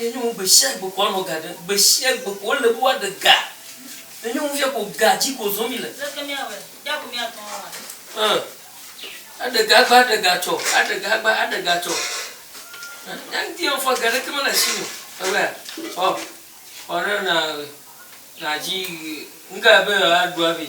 Enyɔwo gbe sia gbe ko woanɔ ga ɖem. Gbe sia gbe ko wole be woaɖe ga. Enyɔwo fia ko ga dzi ko zɔm mile. Leke míawɔe? Bia ko míatɔ wo awɔe. Ẽ, aɖe ga agba, aɖe ga atsɔ, aɖe ga agba, aɖe ga atsɔ. Ẽ, nya ŋuti yɔ fɔ ga ɖeke mele asiwò. Ewɔea? Ɔ, ɔ ne na, nadzi, ŋga be yewoaɖu avi.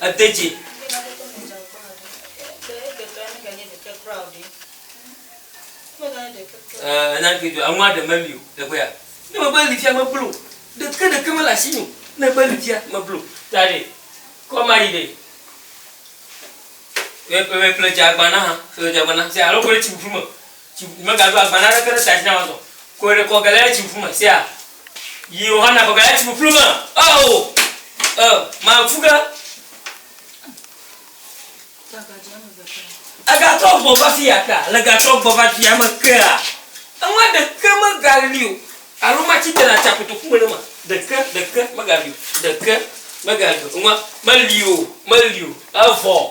Ede dzi. Ɛɛ, nya ke dzɔa, enua ɖe meli o. Teƒe ya. Ne eme be li fia, meblu o. Ɖeke ɖeke mele asinye o. Ne ebe li fia, meblu o. Ta ɖe, kɔ ma yi ɖe. Ƒle, ƒle, ƒle dzeagbana ha. Ƒle dzeagbana. Alo kɔɖe tsiƒuƒu me. Tsi ŋku megaɖo agba naneke ɖe tsia dzi nam azɔ. Kɔe ɖe kɔ Galilea tsi ŋku me. Sea. Yi Yohana kɔ Galilea tsi ƒuƒlu me. Oo! Ɔ, maku ge. Egatrɔ gbɔ va fi ya kea? Le gatrɔ gbɔ va dua me kea? Enua ɖeke megali o. Alo matsi te ɖe atsia kotoku me ɖe ma? Ɖeke, ɖeke megali o. Ɖeke megali o. Enua meli o. Meli o. Evɔ.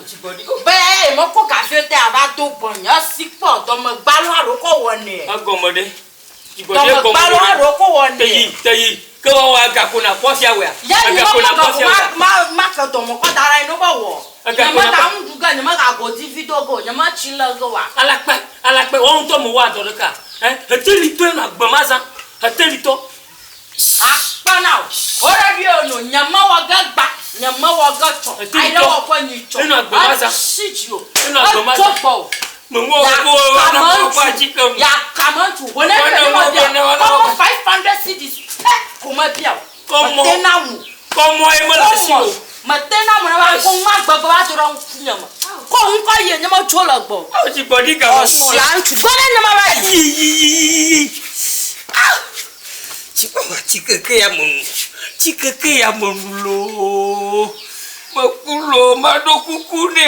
Be eye mekpɔ gaviwo te ava do gbɔnye esi kpɔ dɔme gbalo aɖewo kɔ wɔnɛ. Egɔme ɖe? Dɔme gbalo aɖewo kɔ wɔnɛ. Te yi, te yi. Ke woawɔ agako na kpɔ fia wea? Ya nye ma ma gako ma ma ma ke dɔme kɔ da ɖa yi no be wɔ. Nye ma ka ŋu ɖu ge nye ma ka godi vi do ge o nye ma tsi le ge wa. Alakpe, alakpe, wɔ ŋutɔ me wɔ adɔ ɖeka. Ɛ, heteli tɔe na gbe ma zã. Heteli tɔ, Akpa na wò. Ora ɖi eo no. Nye me wɔ ge gba. Nye me wɔ ge tsɔ. Ayi ɖe wɔ ƒe nyi tsɔ. E shi dzi o. E do gbɔ o. Ya kame ŋtu. Ya kame ŋtu. Ho ne ɖe me bia. Kɔmɔ five hundred cedis pɛ ko me bia o. Mete na mu. Kɔmɔ ye me le asi o. Mete na mɔna ba ko ma gbegbe ba do ɖe ŋkunye me. Ko ŋkɔ yie nye me dzo le gbɔ. Awo dzi gbɔ ɖi gama. Ɔsia ŋutsu gbɔ ɖe nye ma ba yi. Yi yi yi yi yi yi. Ah! Tsi kpɔ ma tsi keke ya me nu. Tsi keke ya me nu loo. Me ku loo ma ɖo kuku ne.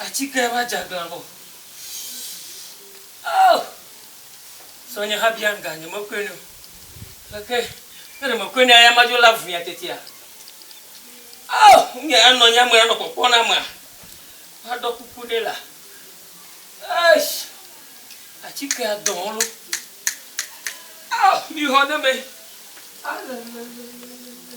Atike va dze aglã vɔ oh zɔ nye ha bia nuga nye me koe nɛ o aleke ne ɖe me koe nɛ aya ma dzo la vuia tetea oh nye anɔ nye ame anɔ kpɔkpɔ na ma ma ɖɔ kuku nɛ la eish atike adɔ lo oh mi xɔ ne me alelelelele.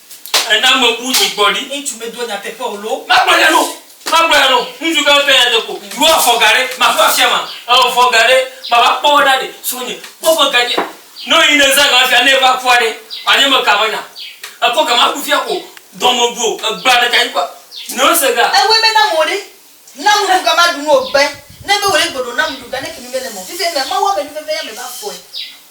Ena mebu nyi gbɔ ɖi. Ŋutsu medoa nyateƒe o loo. Magblɔ nya ɖo, magblɔ nya ɖo. Ŋutsu gã fia nya deko. Ɖo afɔ ga ɖe maɖo afiama. Evɔ ga ɖe mava kpɔ wo ɖa ɖe. Srɔ̃nye, kpɔ ƒe gadzia. Ne wòyi ne zã ga fia ne eva kua ɖe, wòanye me ka menya. Ekɔ ga maɖu fia ko dɔ mebu o. Egbea ɖeka dzi kpɔa, ne wose ga. Ewoe be nam o ɖe. Nam nuɖu ga maɖu nu o gbe. Ne be wòle gbe ɖo nam nuɖu ga ne kemi mele me o. Fifia mea, Mawu ame nuveveya me va fɔe.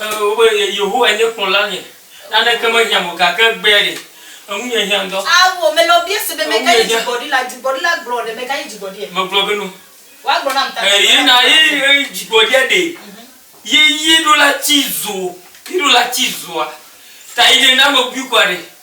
Wobe Yehowae nye kplɔlanye, naneke mehiãm o, gake egbea ɖe, eŋunye hiã ŋdɔ. Ao, mele wo biase be, Meka nye dzigbɔɖila? Dzigbɔɖila gblɔ ɖe, meka nye dzigbɔɖia? Megblɔ be no. Woagblɔ nam ta ta. Ye na ye dzigbɔɖia ɖe ye yi ɖo la tsi zo, yi ɖo la tsi zoa ta yi ne na mebui kua ɖe.